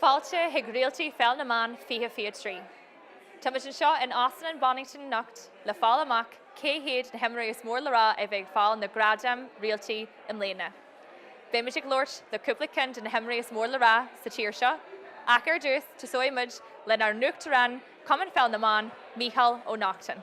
Fáilte chuig Réaltaí Pheil na mBan 2023! Táimid anseo in Óstán an Bonnington anocht le fáil amach cé hiad na himreoirí is mór le rá a bheidh ag fáil na gradaim Réalta i mbliana. Beimid ag labhairt le cúpla ceann de na himreoirí is mór le rá sa tír seo ach ar dtús tosóidh muid lenár nUachtarán Chumann Pheil na mBan, Mícheál Ó Neachtain.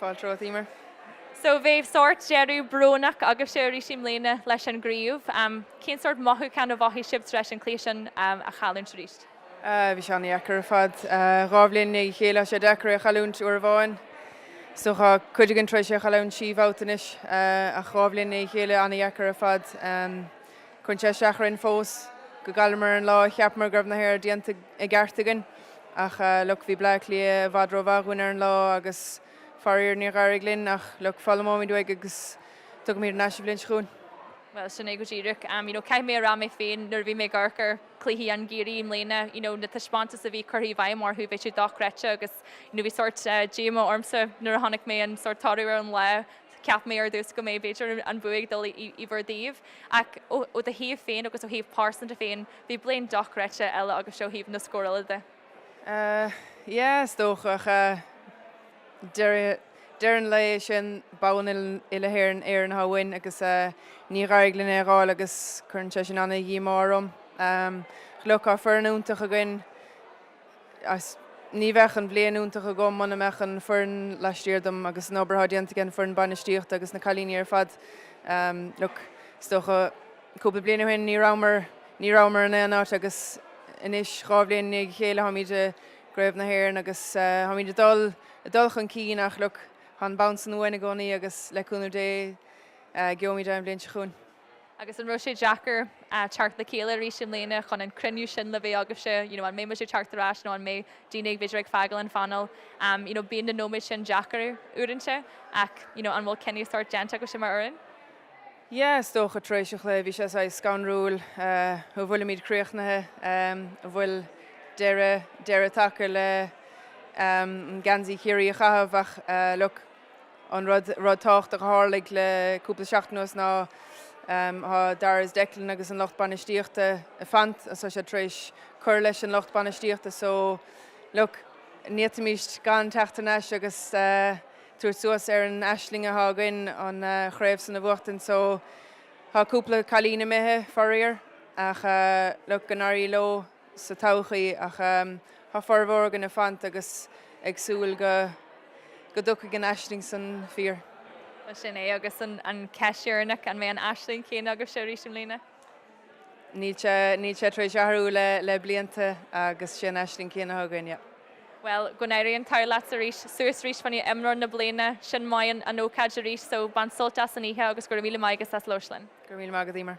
Fáilte romhat, Emer. So, bhí sórt deireadh brónach agaibhse arís i mbliana leis an gcraobh. Cén sórt mothúchán a mhothaigh sibh tar éis an cluiche sin a chailliúint arís? Bhí sé an-dheacair ar fad. Dhá bhliain i ndiaidh a chéile, tá sé deacair é a chailliúint uair amháin. So, tá cuid againn tar éis é a chailliúint trí bhabhta anois, ach dhá bhliain i ndiaidh a chéile, an-dheacair ar fad. Cuireann sé isteach orainn fós gur chailleamar an lá a cheapamar go raibh an obair déanta. i gceart againn. Ach look, bhí Bleá Cliath i bhfad rómhaith dhúinn ar an lá agus faraor níor éirigh linn ach look, foghlaimeoimid uaidh agus tiocfaimid thar n-ais an bhliain seo chugainn. Bhuel, sin é go díreach. You know, caithfidh mé a rá mé féin nuair a bhí mé ag amharc ar chluichí Chiarraí i mbliana, you know, na taispeántais a bhí curtha i bhfeidhm agaibh, bhí siad dochreidte agus, you know, bhí sórt díomá ormsa nuair a chonaic mé an sórt toradh ar an lá. Cheap mé ar dtús go mbeidh, b'fhéidir, an bua ag dul in bhur dtreo. Ach ó do thaobh féin agus ó thaobh pearsanta féin, Bhí bliain dochreidte eile agatsa ó thaobh na scórála de. Yeah, is dócha. Deireadh an lae is é an bonn uile-Éireann a theastaíonn uainn agus níor éirigh linn é a dh'fháil agus cuireann sé sin an-díomá orm. Look, tá foireann iontach againn. 's ní bheadh an bhliain iontach agam muna mbeadh an foireann laistiar dom agus an obair atá déanta ag an foireann bainistíochta agus na cailíní ar fad. Look, is dócha cúpla bliain ó shin ní rabhamar, ní rabhamar in aon áit agus anois dhá bhliain i ndiaidh a chéile táimid i gcraobh na hÉireann agus táimid ag dul, ag dul chun cinn ach look, tá an bonn san uainn i gcónaí agus le cúnamh Dé gheobhaimid é an bhliain seo chugainn. Agus an raibh sé deacair teacht le chéile arís i mbliana chun an cruinniú sin le bheith agaibhse? You know an mbeidh muid ag teacht ar ais nó an mbeidh daoine ag b'fhéidir ag fágáil an phainéil? You know bíonn na nóiméid sin deacair uaireanta ach you know an bhfuil cinneadh sórt déanta agaibhse mar fhoireann? Yeah is dócha tar éis an chluiche bhí sé saghas scanrúil a bhfuilimid críochnaithe, a bhfuil deireadh deireadh tagtha le geansaí Chiarraí a chaitheamh ach look, An rud rud tábhachtach a tharlaigh le cúpla seachtain anuas ná tá Darragh is Declan agus an lucht bainistíochta ag fanacht agus tá siad tar éis cur leis an lucht bainistíochta so look n'fhéadfaimís gan teacht ar n-ais agus tabhairt suas ar an aisling atá againn an chraobh san a bhuachtaint so tá cúpla cailín imithe faraor ach look go n-éirí leo. sa todhchaí, ach tá formhór againne fanta agus ag súil go go dtiocfaidh an aisling san fíor. Bhuel, sin é agus an cheist dheireanach, an mbeidh an aisling chéanna agaibhse arís i mbliana? Níl sé, níl sé tar éis athrú le, le blianta agus sé an aisling céanna againn, yeah. Bhuel, go n-éirí an t-ádh leatsa arís, suas arís fá choinne imreoir na bliana, sin maith an, an ócáid arís, so bain sult as an oíche agus go raibh míle maith agat as labhairt linn. Go raibh míle maith agat, Eimear.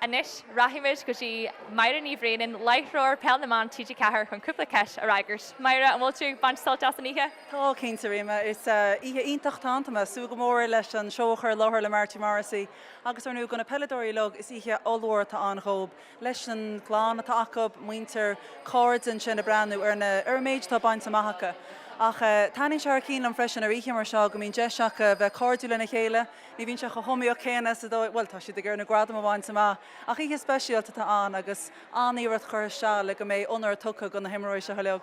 Anois, rachaimid go dtí Máire Ní Bhraonáin, láithreoir Peil na mBan TG4 chun cúpla ceist a fhreagairt. Máire, an bhfuil tú ag baint sult as an oíche? Tá, cinnte, Eimear. Is oíche iontach atá ann. Tá mé ag súil go mór leis an seó a chur i láthair le Marty Morrissey agus ar ndóigh go na peileadóirí uilig. Is oíche ollmhór atá ann dhóib, leis an gclann atá acu, muintir, cairde ansin ag breathnú ar na, ar an méid atá bainte amach acu. Ach taitníonn sé thar cinn liom freisin ar oíche mar seo go mbíonn deis acu bheith cairdiúil lena chéile, Ní bhíonn sé chomh hiomaíoch céanna is dóigh, bhuel, tá siad ag iarraidh na gradaim a bhaint amach ach oíche speisialta atá ann agus an-iarracht curtha isteach le go mbeidh onóir tugtha do na himreoirí seo uilig.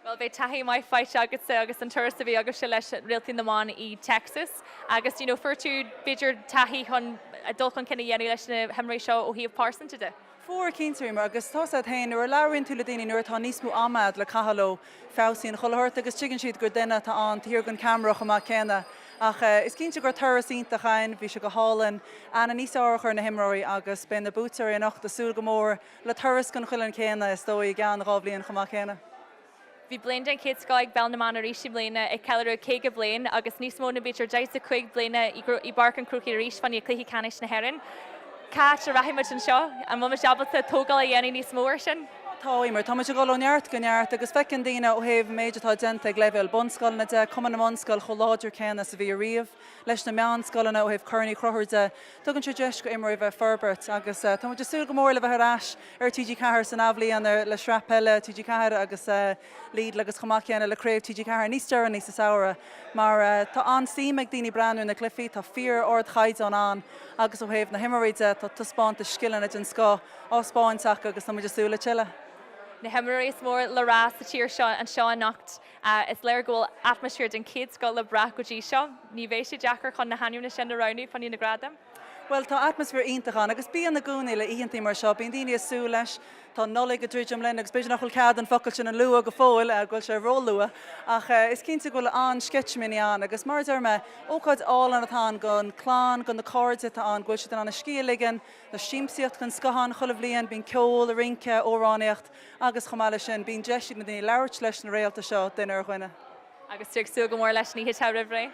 Bhuel, beidh taithí maith faighte agatsa as an turas a bhí agaibhse leis Réaltaí na mBan i dTexas agus you know fuair tú b'fhéidir taithí chun dul chun cinn a dhéanamh leis na himreoirí seo ó thaobh pearsanta de. Fuair cinnte, Eimear, agus tá a fhios agat féin, nuair a labhraíonn tú le daoine, nuair atá níos mó ama agat le caitheamh leo, feabhsaíonn an comhluadar agus tuigeann siad gur duine atá ann taobh thiar den cheamara chomh maith céanna. Ach is cinnte go raibh turas iontach ann, bhí sé go hálainn, aithne níos fearr a chur ar na himreoirí agus beidh na buaiteoirí anocht ag súil go mór le turas den chineál céanna is dóigh i gceann dhá bhliain chomh maith céanna. Bhí bliain den chéad scoth ag Peil na mBan arís i mbliana, ag ceiliúradh 50 bliain agus níos mó ná b'fhéidir 45 bliana i bPáirc an Chrócaigh arís fá choinne Cluichí Ceannais na hÉireann. Cá háit a rachaidh muid anseo? An bhfuil muid ábalta tógáil a dhéanamh níos mó air sin? Tá, Eimear. Tá muid ag dul ó neart go neart agus feiceann daoine ó thaobh an méid atá déanta ag leibhéal bunscoileanna de, Cumann na mBunscoil chomh láidir céanna is a bhí ariamh, leis na meánscoileanna ó thaobh Corn Uí Chonchúir de, Tugann sé deis do imreoirí a bheith ag forbairt agus tá muid ag súil go mór le bheith ar ais ar TG4 san athbhliain le sraith peile TG4 agus Lidl agus chomh maith céanna le craobh TG4 níos deireanaí sa samhradh mar tá an-suim ag daoine breathnú ar na cluichí. Tá fíor ardchaighdeán ann agus ó thaobh na himreoirí de tá taispeántais scileanna den scoth á thaispeáint acu agus tá muid ag súil le tuilleadh. Na himreoirí is mór le rá sa tír seo anseo anocht. Is léir go bhfuil atmaisféar den chéad scoth le brath go dtí seo. Ní bheidh sé deacair chun na hainmneacha sin a roghnú fá choinne na gradaim. Bhuel, tá atmaisféar iontach ann agus bíonn i gcónaí le oícheanta mar seo. Bíonn daoine ag súil leis. Tá an Nollaig ag druidim linn agus b'fhéidir nach bhfuil cead an focal sin a lua go fóill, go bhfuil sé róluath, ach is cinnte go bhfuil an-sceitimíní ann agus mar a deir mé, ócáid álainn atá ann don chlann, do na cairde atá ann, go bhfuil siad in ann a scíth a ligean, tá siamsaíocht den scoth ann chuile bhliain, bíonn ceol, rince, amhránaíocht. Agus chomh maith leis sin, bíonn deis ag na daoine labhairt leis na réalta seo, duine ar dhuine. Agus tú ag súil go mór leis an oíche atá romhainn?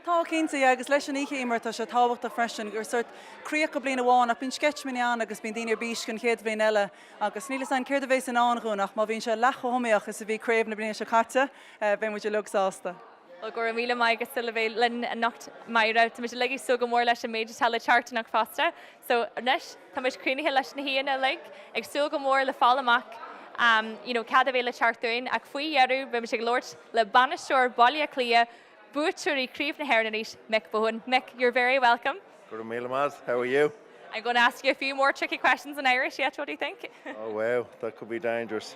Tá, cinnte, yeah. Agus leis an oíche, mar tá sé tábhachtach freisin gur sórt críoch go bliain amháin ach bíonn sceitiminí ann agus bíonn daoine ar bís don chéad bhliain eile agus níl 'fhios a'inn céard a bhéas i ndán dhúinn ach má bhíonn sé leath chomh hiomaíoch is a bhí craobh na bliana seo caite, beidh muid uilig sásta. Go raibh míle maith agat le bheith linn anocht Máire. Táimid uilig ag súil go mór leis an méid atá le teacht anocht fosta. So anois táimid cruinnithe leis na haíonna uilig ag súil go mór le fáil amach you know cad a bheidh le teacht uainn ach faoi dheireadh beimid ag labhairt le bainisteoir Bhaile Átha Cliath, buaiteoirí Craobh na hÉireann arís, Mick Bohan. Mick, you're very welcome. Go raibh míle maith. How are you? I'm going to ask you a few more tricky questions in Irish yet, what do you think? Oh wow, that could be dangerous.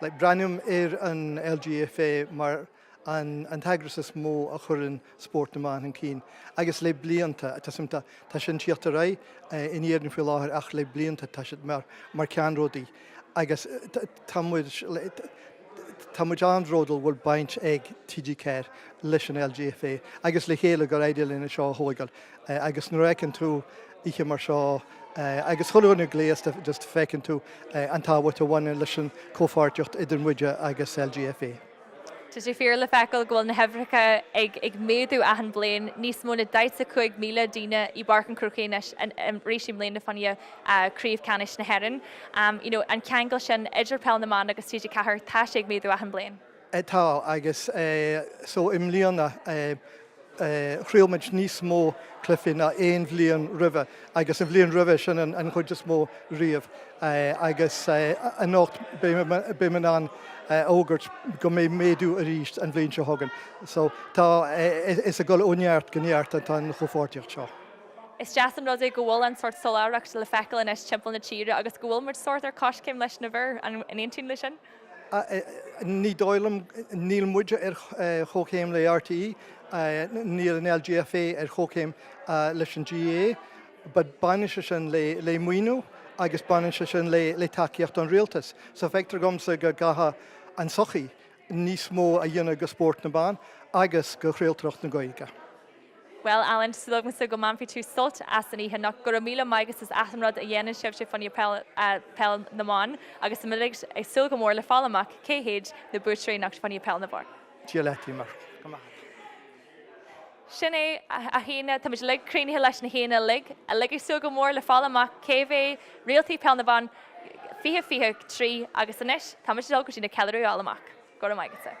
Breathnaím ar an LGFA mar an t-eagras is mó a chuireann spórt na mban chun cinn agus le blianta tá sin ag tíocht ar aghaidh in Éirinn faoi láthair ach le blianta tá siad mar ceannródaí agus tá muid tá muid an-bhródúil go bhfuil baint ag TG4 leis an LGFA agus le chéile gur éirigh linn é seo a thógáil agus nuair a fheiceann tú oíche mar seo agus chuile dhuine gléasta just feiceann tú an tábhacht a bhaineann leis an chomhpháirtíocht idir muide agus LGFA. Tá sé fíor le feiceáil go bhfuil na huimhreacha ag ag méadú achan bhliain, níos mó na 45,000 daoine i bPáirc an Chrócaigh anois an arís i mbliana fá choinne Craobh Ceannais na hÉireann. you know an ceangal sin idir Peil na mBan agus TG4 tá sé ag méadú achan bhliain. Tá, agus so i mbliana chraol muid níos mó cluifí ná aon bhliain roimhe agus an bhliain roimhe sin an chuid is mó riamh agus anocht beidh mé in ann a fhógairt go mbeidh méadú arís an bhliain seo chugainn. So tá, is ag dul ó neart go neart atá an chomhpháirtíocht seo. Is deas an rud é go bhfuil an sórt soláthracht le feiceáil anois timpeall na tíre agus go bhfuil muid sórt ar coiscéim leis na bhfir, an aontaíonn le sin? Ní dóigh liom. Níl muide ar chomhchéim le RTÉ, níl an LGFA ar chomhchéim leis an GAA. Baineann sé sin le maoiniú agus baineann sé sin le tacaíocht ón Rialtas. So feictear dhomsa go gcaithfidh an tsochaí níos mó a dhéanamh go spórt na mban agus go chraoltóireacht na Gaeilge. Bhuel, Alan, súil agamsa go mbainfidh tú sult as an oíche anocht. Go raibh míle maith agatsa as an rud a dhéanann sibhse fá choinne peil na mban agus táimid uilig ag súil go mór le fáil amach cé hiad na buaiteoirí anocht fá choinne peil na mban. Dia leat a Emer. Go raibh maith agat. Sin é, a chairde, táimid uilig cruinnithe leis na haíonna uilig, uilig ag súil go mór le fáil amach cé bheidh Réaltaí Peil na mBan 2023 agus anois, táimid ag dul go dtí an ceiliúradh le fáil amach. Go raibh maith agatsa.